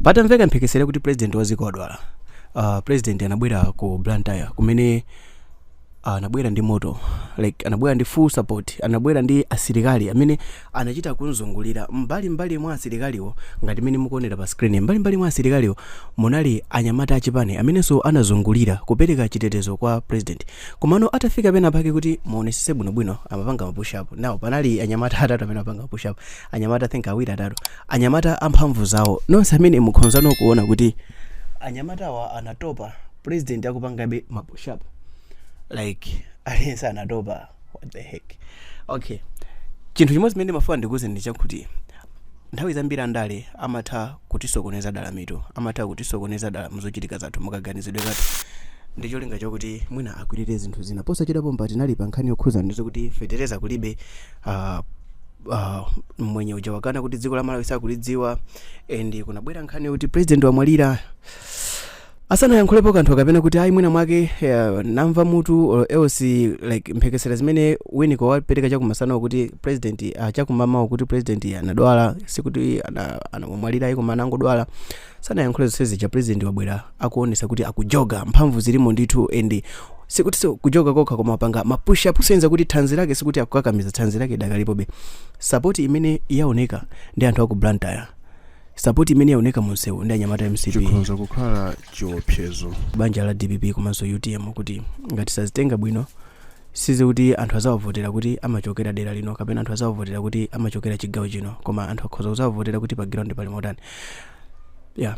patamveka mphekesera kuti president wa dziko wadwala uh, president anabwera ku blantyre kumene ah, anabwera ndi moto like anabwera ndi full support anabwera ndi asilikali amene anachita kunzungulira mbali mbali mwa asilikaliwo ngati mmene mukuonera pa screen mbali mbali mwa asilikaliwo munali anyamata achipani amenenso anazungulira kupereka chitetezo kwa president komano atafika pena pake kuti muonesese bwinobwino amapanga mapush up now panali anyamata atatu amene amapanga mapush up anyamata I think awiri atatu anyamata amphamvu zawo nonse amene mukhonzano kuona kuti anyamatawa anatopa president akupangabe mapushap like aliyense anatopa what the heck okay chinthu chimodzi chimene ndimafuna ndikuuzeni ndi chakuti nthawi zambiri andale amatha kutisokoneza dala mitu amatha kutisokoneza dala mzochitika zathu mukaganizidwe zathu ndi cholinga chakuti mwina akwirire zinthu zina posachedwapa mpati tinali pa nkhani yokhuzana ndi zokuti fetereza kulibe uh, ah, mmwenye uja wakana kuti dziko la malawi sakulidziwa and kunabwera nkhani yokuti president wamwalira asanayankhulepo kanthu kapena kuti ayi mwina mwake eh, namva mutu or else like mphekesera zimene winiko wapereka chakumasanawo kuti president uh, chakumamawo kuti president anadwala sikuti ana- anamwalira ayi koma anangodwala sanayankhule zonse zija president wabwera akuonesa kuti akujoga mphamvu zilimo ndithu and sikutiso kujoga kokha koma wapanga ma push up kuonesa kuti thanzi lake sikuti akukakamiza thanzi lake lidakalipobe sapoti imene yaoneka ndi anthu aku blantyre sapoti imene yaoneka munsewu ndi anyamata a mcp chikhonza kukhala chiopsezo kwa banja la dpp komanso utm kuti ngati sazitenga bwino si zakuti anthu azawavotera kuti amachokera dera lino kapena anthu azawavotera kuti amachokera chigawo chino koma anthu akhoza kuzawavotera kuti pa ground pali motani yeah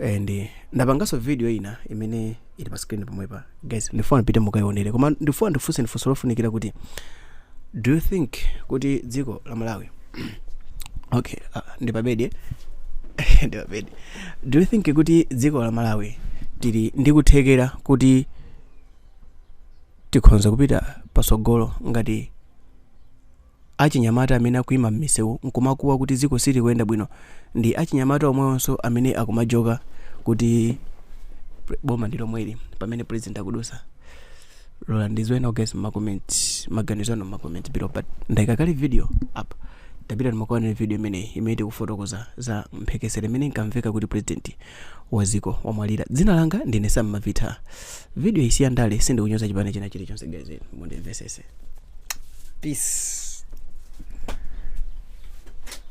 and eh, ndapanganso video ina imene ili pa screen pomwepa guys ndifuna mupite mukayionere koma ndifuna ndikufunseni funso lofunikira kuti do you think kuti dziko la malawi okay uh, ndi pabedi eh? ndi pabedi do you think kuti dziko la malawi tili ndi kuthekera kuti tikhonza kupita pasogolo ngati Achinyamata amene akuima m'misewu n'kumakuwa kuti dziko silikuyenda bwino ndi achinyamata omwewonso amene akumajoka kuti boma ndi lomweli pamene president akudutsa. Lolani ndidziwe nawo guys m'ma comment maganizo anu m'ma comment below but ndaika kale video up tapitani mukaonere video imeneyi imene tikufotokoza za mphekesera imene inkamveka kuti president waziko wamwalira dzina langa ndine sam mavita video iyi si ya ndale sindikunyoza chipani china chilichonse guys mundimvesese peace